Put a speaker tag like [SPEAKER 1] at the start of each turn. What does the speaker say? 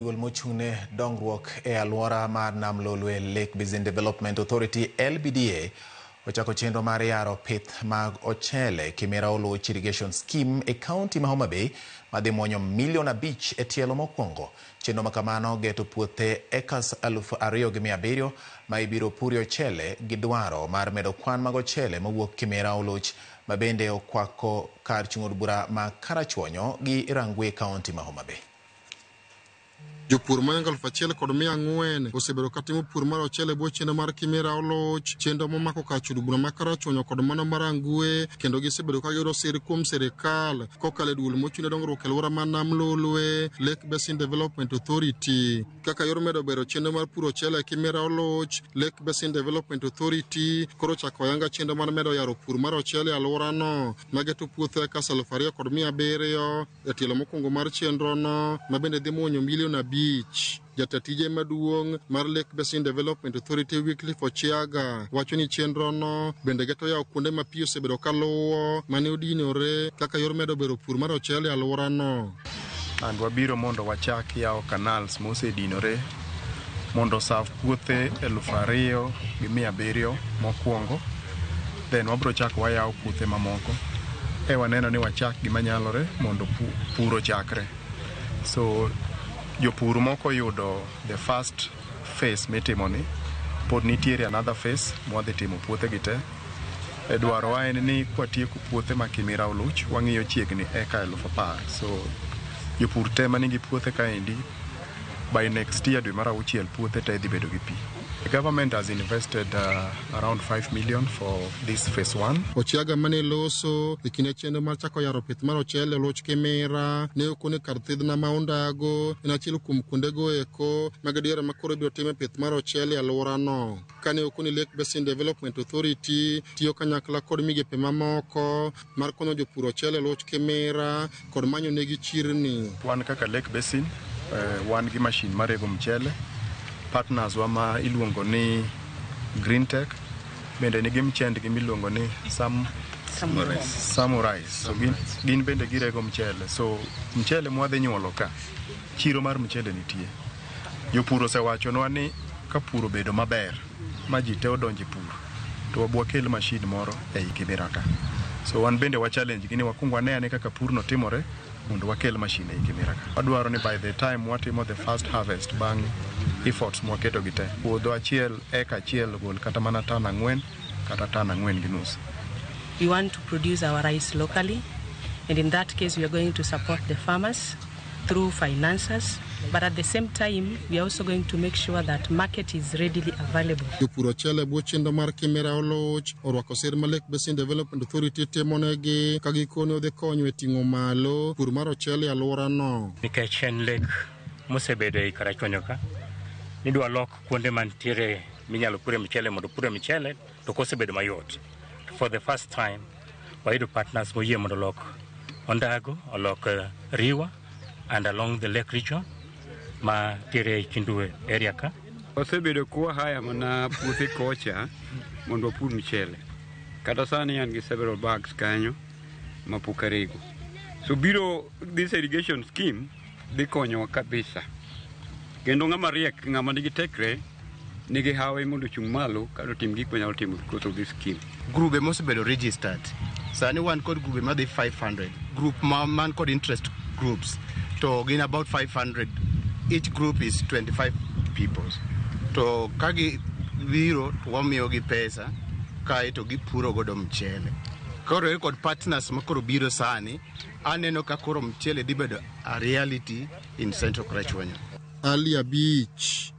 [SPEAKER 1] Duol mochung'ne dongruok e alwora mar Nam Lolwe Lake Basin Development Authority LBDA ochako chenro mar yaro pith mag ochele Kimera Oluoch Irrigation Scheme e kaunti ma Homa Bay madhi mwonyo milion abich e tielo mokwongo. Chenro ma kamano geto puothe ekas aluf ariyo gi mia abiriyo ma ibiro purie ochele gi dwaro mar medo kwan mag ochele mowuok Kimera Oluoch ma bende okwako kar chung' od bura ma Karachuonyo gi Rangwe e kaunti ma Homa Bay. Jopur
[SPEAKER 2] moingo aluf achiel kod mia ang'wen osebedo katimo pur mar ochele bwo chenro mar Kimera Oloch, chenro momako kach od bura ma Karachuonyo kod mano mar Angue, kendo gisebedo ka giyudo sir kuom sirikal kokalo e duol mochung' ne dongruok e alwora ma Nam Lolwe, Lake Basin Development Authority. Kaka yor medo bero chenro mar puro ochele e Kimera Oloch, Lake Basin Development Authority koro chako yanga chenro mar medo yaro pur mar ochele e alworano, ma geto puothe ekas aluf ariyo kod mia abiriyo. E tielo mokwongo mar chenrono ma bende dhi muonyo milion abich, jata tije maduong' mar Lake Basin Development Authority Wycliffe Ochiaga wacho ni chenrono bende geto yawo kuonde ma pi osebedo ka luwo mane odinore kaka yor medo bero pur mar ochele e alworano. And wabiro
[SPEAKER 3] mondo wachak yawo canals mosedinore mondo osav puothe eluf ariyo gi mia abiriyo mokwongo. then wabiro chako wayawo puothe mamoko e waneno ni wachak gima nyalore mondo pur ochakre so jopur moko yudo the first phase mitimo ni pod nitiere another phase mwadhi timo puothe gi te e dwarowa en ni kwatieko puothe ma kimira oluch wang'iyo chiegni eka elufu apar so jopur te ma nigi puothe kaendi By next year dwe mar auchiel puothe te dhi bedo gi pi. The government has invested uh, around 5 million for this phase 1. Ochiaga mane loso
[SPEAKER 2] e kinde chenro mar chako yaro pith mar ochele e loch Kimira ne okone kar thidhna ma Ondago en achiel kuom kuondego eko ma gadiera ma koro ibiro time pith mar ochele e alworano. Kane okone Lake Basin Development Authority tiyo kanyakla kod migepe mamoko mar konyo jopur ochele e loch Kimira kod manyo negi chirni. Wan kaka Lake
[SPEAKER 3] Basin eh, wan gi mashin marego mchele. Partners wa ma iluongo ni Green Tech bende nigi mchendgi miluongo ni Sam Samurai. So gin, gin bende girego mchele. So mchele mwadhi nyuolo ka, chiro mar mchele nitie. Jopur osewachonwa ni ka pur obedo maber, ma ji te odonje pur to wakel machine moro ei kibira ka. So wan bende wa challenge gi ni wakwong wane ane kaka purno timore mondo wakel machine ei kibira ka. Wadwaro ni by the time watimo the first harvest bang' efforts mwaketo gi te, puodho achiel eka achiel ogol kata mana tan ang'wen kata tan ang'wen gi nus. We want
[SPEAKER 4] to produce our rice locally and in that case we are going to support the farmers. through financers but at the same time we are also going to make sure that market is readily available. Jopur ochele bwo
[SPEAKER 2] chenro mar Kimera Oloch orwako sir ma Lake Basin Development Authority timonegi ka gikone odhi konyo e ting'o malo pur mar ochele e alworano. Nikech en lek
[SPEAKER 5] mosebedo e Karachuonyo ka, nidwa lok kuonde mantiere minyalo pure mchele mondo pure mchele To kosebedo mayot to for the first time wayudo partners moyie mondo olok ondago olok eh, riwa and along the lake region ma tere kindue area ka wasebedo kuwa
[SPEAKER 6] haya mana puothe kocha mondo wapur mchele kata sani an gi several bags kanyo mapok arego so biro this irrigation scheme dhi konyowa kabisa kendo ng'ama riek ng'ama nigi tekre nigi hawi mondo ochung' malo kata otim gik manyalo timo because of this scheme. Grube mosebedo
[SPEAKER 7] registered. Sani wan kod grube madhi 500. Group ma man kod interest groups to gin about 500. Each group is 25 people. To ka gi biro to wamiyo gi pesa kae to gipuro godo mchele. Koro e kod partners ma koro biro sani aneno ka koro mchele dhi bedo a reality in Central Krachuonyo.
[SPEAKER 2] Ali Abich